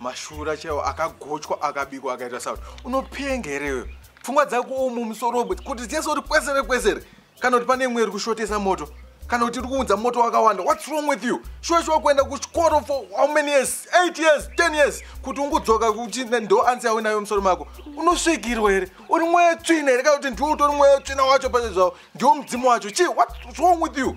mashura chaiwo akagochwa akabikwa akaita sauti unopenga here pfungwa dzako umu musoro kuti dzese uri kwesere kwesere kana kuti pane imwe iri kushotesa moto kana kuti iri kuunza moto wakawanda whats wrong with you shuwa shuwa kuenda kuchikoro for how many years 8 years 10 years kuti ungudzoka kuti ndo ansi yawe nayo musoro mako unosvikirwa here uri mweya tsvina here kana kuti ndiwo utori mweya tsvina wacho pazve zvavo ndiwo mudzimu wacho chii whats wrong with you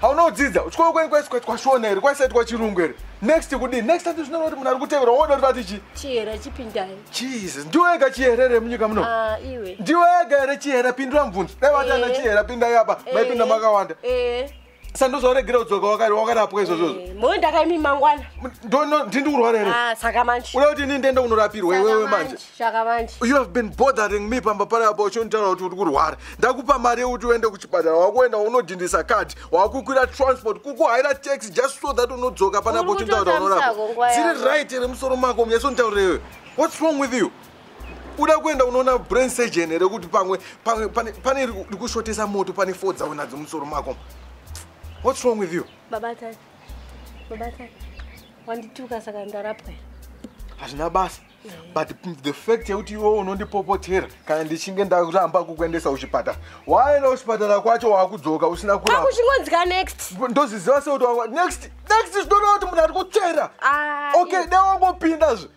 haunodzidza uchikoro kwenyu kwaisikaitwa shona here kwaisaitwa chirungu here next kudii next time zvinoona kuti munhu ari kutevera woda kuti vati chi chihere chipindai jesus ndiwe ega chihere here munyika muno ah, iwe ndiwe ega here chihere pindura mubvunzo dai vati ana eh. chihere pindai apa eh. maipinda makawanda eh. sandozvaregera kudzoka wakarapwa izvozvo mhoi ndakaimi mangwana ndini kurwara here ah, saka manje uda kuti ini ndiende kunorapirwa iwewe manje shaka manje you have been bothering me pamba pari apa uchonditaura kuti uri kurwara ndakupa mari yekuti uende kuchipatara wakuenda unodhindisa card wakukwira transport kukuhaira tax just so that unodzoka pana apa uchonditaura unorapa dziri right here musoro mako munyasonditaurira iwe what's wrong with you uda kuenda unoona brain surgeon here kuti pamwe pane rikushotesa moto pane fo dzaunadzo musoro mako what's wrong with you babatai babatai wandituka saka ndarapwa hazvina basa but the fact yekuti iwe unondipopotera kana ndichinge ndaramba kukuendesa kuchipatara waenda kuchipatara kwacho wakudzoka usina kurauchingonzika next ndoziziva sekuti next next zvinoreva kuti munhu ari kutsvera okay dai wangopindazve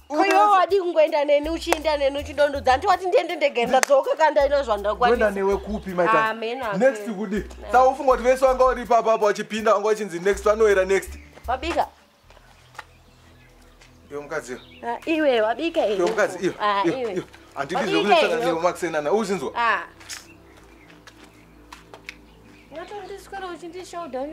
Kuyo wadi kungoenda neni uchienda neni uchidondodza hanti wati ndiende ndege ndadzoka kandaina zvandakwanisa newe kupi maita ah, next kudi saufunga kuti vese wanga uri ipapa apa wachipinda wanga wachinzi next vanoera next wabika Iyo mukadzi iyo. Ah, iwe wabika here? Iyo mukadzi iyo. Ah, iyo, iwe. iyo. Handidi Wabika zvekunotsvaka iyo. newe makusenana. Uzinzwa. Ah. Ungatondiswera uchindishoda.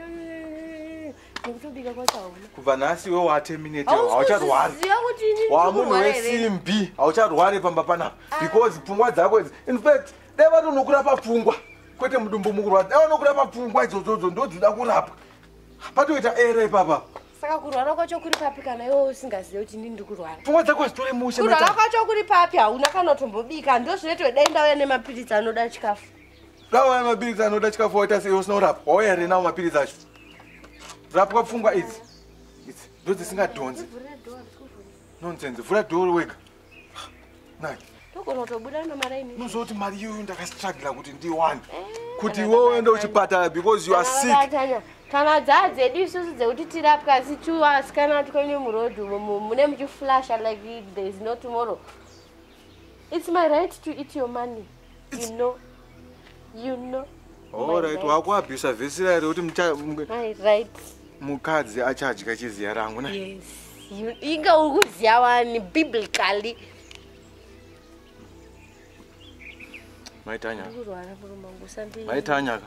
Ndikutobika kwacho hauna. Kubva nhasi iwe waterminate haucharwari. Hauziva kuti ini Wamunhu ndikurwara here? wesimbi haucharwari pamba panapa because pfungwa dzako idzi. In fact, dai vatonokura papfungwa kwete mudumbu mukurwadza. Dai vanokura papfungwa idzodzo ndodzoda kurapwa. patoita ere ipapa saka kurwara kwacho kuri papi kana iwe usingazive kuti ndini ndiri kurwara pfungwa dzako hazitore mushe kurwara kwacho kuri papi hauna kana kutombobika ndo zvinoitwa dai ndauya nemapiritsi anoda chikafu dauya mapiritsi anoda chikafu waita sei usina kurapwa wauya here nawo mapiritsi acho rapwa pfungwa idzi idzi ndo dzisingadhonzi nonsense vhura dhoro wega nani togona kutobuda nomari imi unozoti mari iyoyo ndakastrugla kuti ndiwane eh, kuti iwe uende uchipatara because you are sick kana dzaa dzedu isusu dzekuti tirapwe asi tu asikana twene muroad umo mune muchiflasha like there is no tomorrow it's my right to eat your money you know you know alright wakuabhisa vhesi rayo rekuti mukadzi achadya chiziya rangu na yes inga uri kuziya wani biblically maitanyaka maitanyaka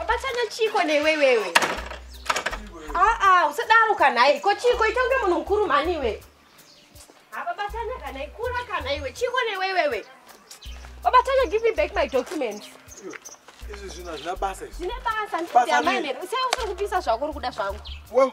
Abatanya chiko newe wewe. Ah ah, usadaro kana iko chiko ita unge munhu mukuru mhani iwe. Hapa batanya kana ikura kana iwe chiko newe wewe. Babatanya give me back my documents. Izvi zvina zvina basa izvi. Zvine basa ndiyamane. Usaye usiri kupisa zvako uri kuda zvangu. Wewe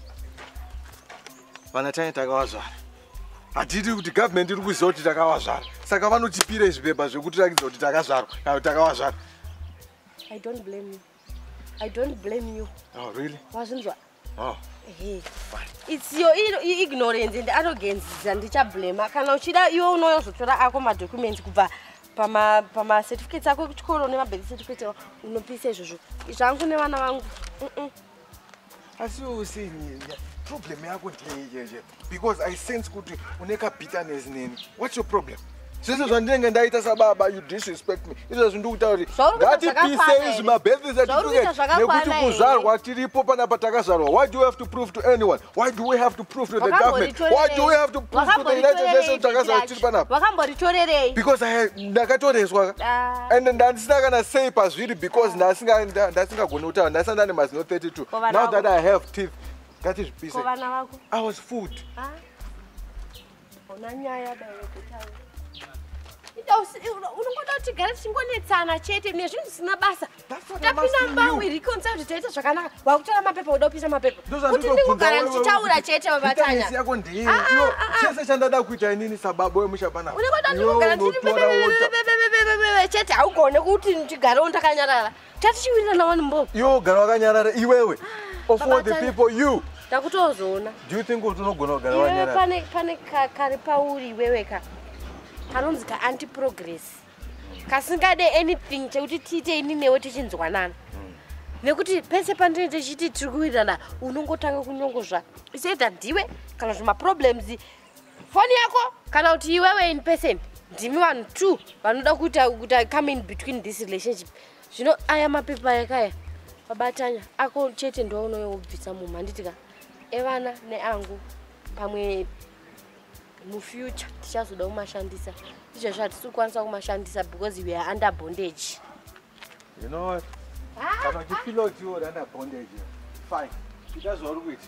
vana tane takavazvara hatiti kuti government iri kuziva kuti takavazvara saka vanotipira izvi pepa zvekutirakidza kuti takazvarwa kana kuti takavazvara i don't blame you i don't blame you oh, really wazvinzwa oh. it's your ignorance and arrogance dzandichablema kana uchida iwe unoyozotora ako madocuments kubva pamacertificates ako kuchikoro nemabirth certificate unopisa izvozvo zvangu nevana vangu mm -mm. asi usini problem yako ndeiyeje because i sense kuti une kabitterness neni what's your problem zvese zvandinenge ndaita sababa you disrespect me izvezvi ndikutauri ngatipise izvi mabethis atituke nekuti kuzvarwa tiripo panapa takazvarwa why do you have to prove to anyone Why do we have to prove to the government? Why do we have to prove to the United Nations takazara tiri panapa? Wakambotitorerei? Because I ndakatoreswa. Ah. And ndandisina kana sei pazviri because ndasinga ndasingagoni kutaura ndasina ndane mazino 32. Now that I have teeth, ngatizvipise. Ko vana vako? I was fooled. Ah. Ona nyaya dai yekutaura. Ita unongoda kuti gara tichingonetsana chete nezvinhu zvisina basa. Tapinda mbangu iri concert zvitaita zvakanaka. Wakutora mapepa uda kupisa mapepa. Kuti ndingogara ndichitaura chete vabatanya. Ah, ah, ah, chese chandada kuita inini sababa wemusha pana. Unongoda ndingogara ndiri chete haugone kuti ndigare ndakanyarara. Tati chiwirira na one mbo. Yo gara wakanyarara iwewe. Ah, of all the people you. Takutozoona. Do you think kuti unogona kugara wakanyarara? Pane pane kari pauri iwewe ka. Kanonzi ka anti progress. Kasingade anything chekuti tiite ini newe tichinzwanana. Hmm. nekuti pese pandine tichiti tiri kuwirirana unongotanga kunyongozva isoita ndiwe kana zvemaproblems foni yako kana kuti iwewe in person ndimi vanhu two vanoda kuita kuti i come in between this relationship zvino aya mapepa yakaya vabatanya ako chete ndounoyobvisa mumhu handiti ka evana neangu pamwe mufuture tichazoda kumashandisa izvezvo hatisi kukwanisa kumashandisa because we are under bondage you know what ah, kana uchifila ah. kuti you're under bondage fine ita zvauri kuita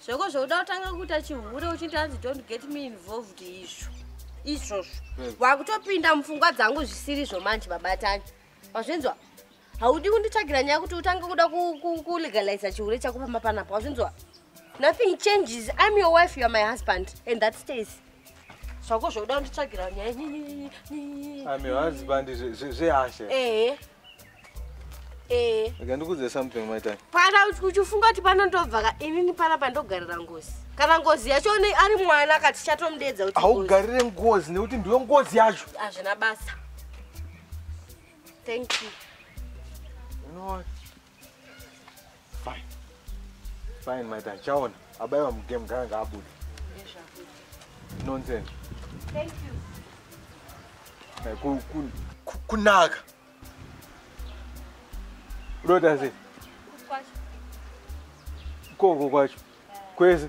zvako zvokuda kutanga kuita chihure uchiti hanzi don't get me involved izvo izvozvo hmm. wakutopinda mupfungwa dzangu zvisiri zvo manje babatani wazvinzwa haudi kunditsvagira nyaya kuti utange kuda kulegaliza chihure chako pamba panapa wazvinzwa nothing changes im your wife youare my husband and that stays zvako zvokuda kunditsvagira nyaya zvehash ehe Eh. Rega ndikuudze something mai Tanya. Pana uchifunga kuti pano ndobva ka inini pana pandogarira ngozi. Kana ngozi yacho ari mwana kati chatomudeedza kuti haugarire ngozi nekuti ndiyo ngozi yacho. Hazvina basa. Thank you. You know what? Fine. Fine my Tanya. Chaona abaiwa mugame kana ngaabude. Nonsense. Thank you. Kunaka. Ku, ku, ku, Unoita sei? Koko kwacho. Kwese.